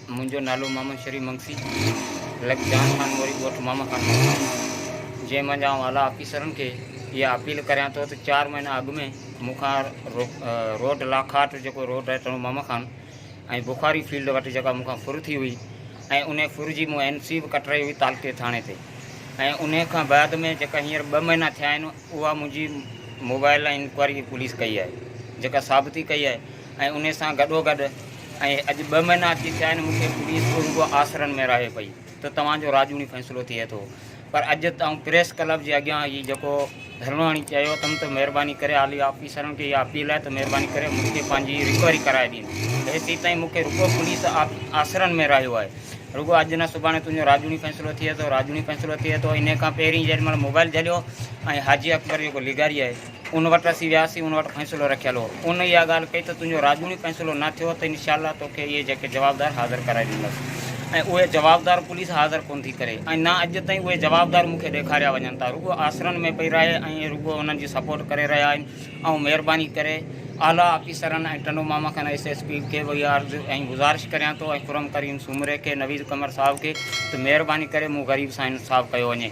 منهنجو نالو محمد شريف منگسي لڪ جان خان موري ڳوٺ ماما خان جنهن منجهه آئون اعليٰ آفيسرن کي اها اپيل ڪريان ٿو ته چار مهينا اڳ ۾ مون کان روڊ لاکاٽ جيڪو روڊ اچڻو ماما خان ۽ بخاري فيلڊ وٽ جيڪا مون کان ڦر ٿي هئي ۽ انهي ڦر جي مون اين سي به ڪٽرائي هئي تعلقي ٿاڻي تي ۽ انهي کان بعد ۾ جيڪا هينئر ٻه مهينا ٿيا آهن اها منهنجي موبائل ۽ انڪوائري پوليس ڪئي آهي جيڪا ثابتي ڪئي آهي ۽ انهي سان گڏو گڏ ۽ اڄ ٻه مهينا اچي ٿيا آهن مون کي پوليس به رڳو آسرن ۾ راهي پئي ته توهان جو راڄوڻي فيصلو ٿئي ٿو پر اڄ آئون پريس ڪلب جي اڳيان هي جيڪو ڌرڻو هڻي چيو اٿم ته مهرباني ڪري اعلي آفيسرن کي اها اپيل آهي ته مهرباني ڪري مون کي پنهنجي رڪوري ڪرائي ڏين ته هيسين تائين مون کي رڳو پوليس آسرن ۾ رهيو آهي رڳو اڄ نه سڀاڻي تنهنجو راڄوڻي فيصلو ٿئي ٿو راڄوڻي فيصلو ٿئي ٿو انهي کان پهرين جيڏي مهل موبائل جهليو ۽ حاجي اڪبر جيڪو لغاري آهي ان وٽ اسين وياسين، ان وٽ فيصلو رکيل هو. ان اها ڳالهه ڪئي ته تنهنجو راڄوڻي فيصلو نه ٿيو ته انشاء الله توکي اهي جيڪي جوابدار حاضر ڪرائي ڏيندس ۽ اهي جوابدار پوليس حاضر ڪونه ٿي ڪري ۽ نه اڄ تائين اهي جوابدار مون کي ڏيکاريا وڃن ٿا رڳو آسرن ۾ پئي رهي ۽ رڳو انهن جي سپورٽ ڪري رهيا آهن آئون مهرباني ڪري اعليٰ آفيسرن ۽ ٽنڊو ماما کان ايس ايس پي کي به اها عرض ۽ گذارش ڪريان ٿو ۽ خرم ڪريم سومري کي نويد قمر صاحب کي ته مهرباني ڪري مون غريب سان انصاف ڪيو وڃي.